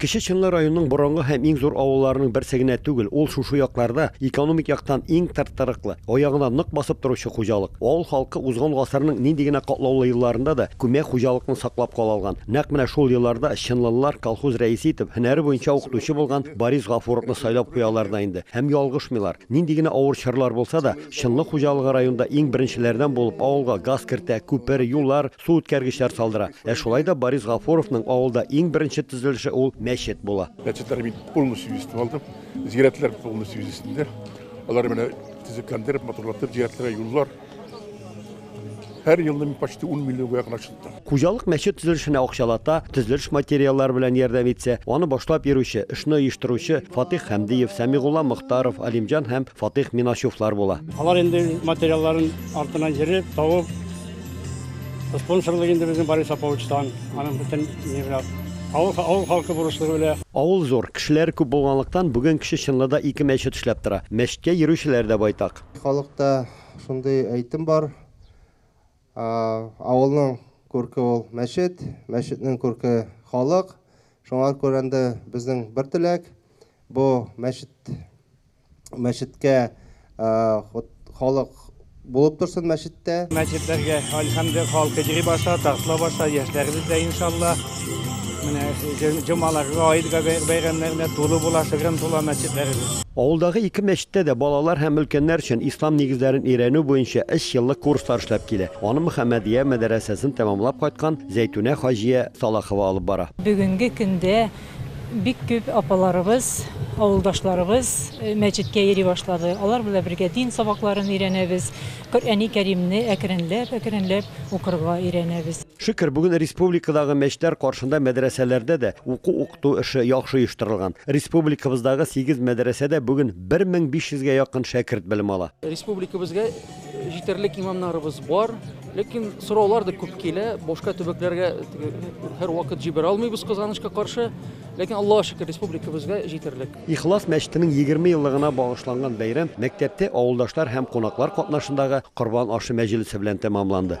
Кече Чынлы районының борынгы һәм иң зур авылларының берсе генә түгел, ул шушы якларда экономик яктан иң тырт-тырыклы, аягына нык басып торучы хуҗалык. Авыл халкы узган гасырның нинди генә катлаулы елларында да күмәк хуҗалыкны саклап кала алган. Нәкъ менә шул елларда чынлылылар колхоз рәисе итеп һөнәре буенча укытучы булган Борис Гафуровны сайлап куялар да инде. Һәм ялгышмыйлар. Нинди генә авыр чорлар булса да, Чынлы хуҗалыгы районда иң беренчеләрдән булып авылга газ кертә, күпер, юллар, су үткәргечләр салдыра. Ә шулай да Борис Гафуровның авылда иң беренче төзелеше ул мәчет була. Мәчетләр мин полностью җитеп алдым. Зиярәтләр полностью җитсеннәр. Алар менә төзекләндереп, матурлатып, зиярәтләргә юллар. Һәр елны мин почти 10 миллион якын акча Хуҗалык мәчет төзелешенә акчалата, төзелеш материаллары белән ярдәм итсә, аны башлап йөрүче, эшне оештыручы Фатих Хәмдиев, Сәмигулла Мөхтаров, Алимҗан һәм Фатих Минашевлар була. Алар инде материалларын артыннан йөреп, табып, Спонсорлык инде безнең Борис Аповичтан, аның бөтен нигә авыл авыл халкы бурычлыгы белә. Авыл зур, кешеләр күп булганлыктан, бүген кеше чынлы да ике мәчет эшләп тора. Мәчеткә йөрүчеләр дә байтак. Халыкта шундый әйтем бар, Авылның күрке ул мәчет, мәчетнең күрке халык. Шуңа күрәндә безнең бер теләк, бу мәчет мәчеткә халык булып торсын мәчеттә. Мәчетләргә альхамды халкы йөри баша, тартыла баша, яшьләребез дә иншалла. Менә җомаларга, аид бәйрәмнәренә тулы була, шыгрым тула мәчетләребез. Авылдагы ике мәчеттә дә балалар һәм өлкәннәр өчен ислам нигезләрен өйрәнү буенча өч еллык курслар эшләп килә. Аны Мөхәммәдия мәдәрәсәсен тәмамлап кайткан Зәйтүнә хаҗия Салахова алып бара. Бүгенге көндә Бик күп апаларыбыз, авылдашларыбыз мәчеткә йөри башлады. Алар белән бергә дин сабакларын өйрәнәбез, Коръәни Кәримне әкренләп-әкренләп укырга өйрәнәбез. Шөкер, бүген республикадагы мәчетләр каршында мәдрәсәләрдә дә уку-укыту эше яхшы оештырылган. Республикабыздагы сигез мәдрәсәдә бүген 1500 гә якын шәкерт белем ала. Республикабызга Җитәрлек имамнарыбыз бар, ләкин сораулар да күп килә. Башка төбәкләргә һәр вакыт җибәрә алмыйбыз кызганычка каршы. Ләкин Аллага шөкер, республикабызга җитәрлек. Ихлас мәчетенең 20 еллыгына багышланган бәйрәм мәктәптә авылдашлар һәм кунаклар катнашындагы корбан ашы мәҗлесе белән тәмамланды.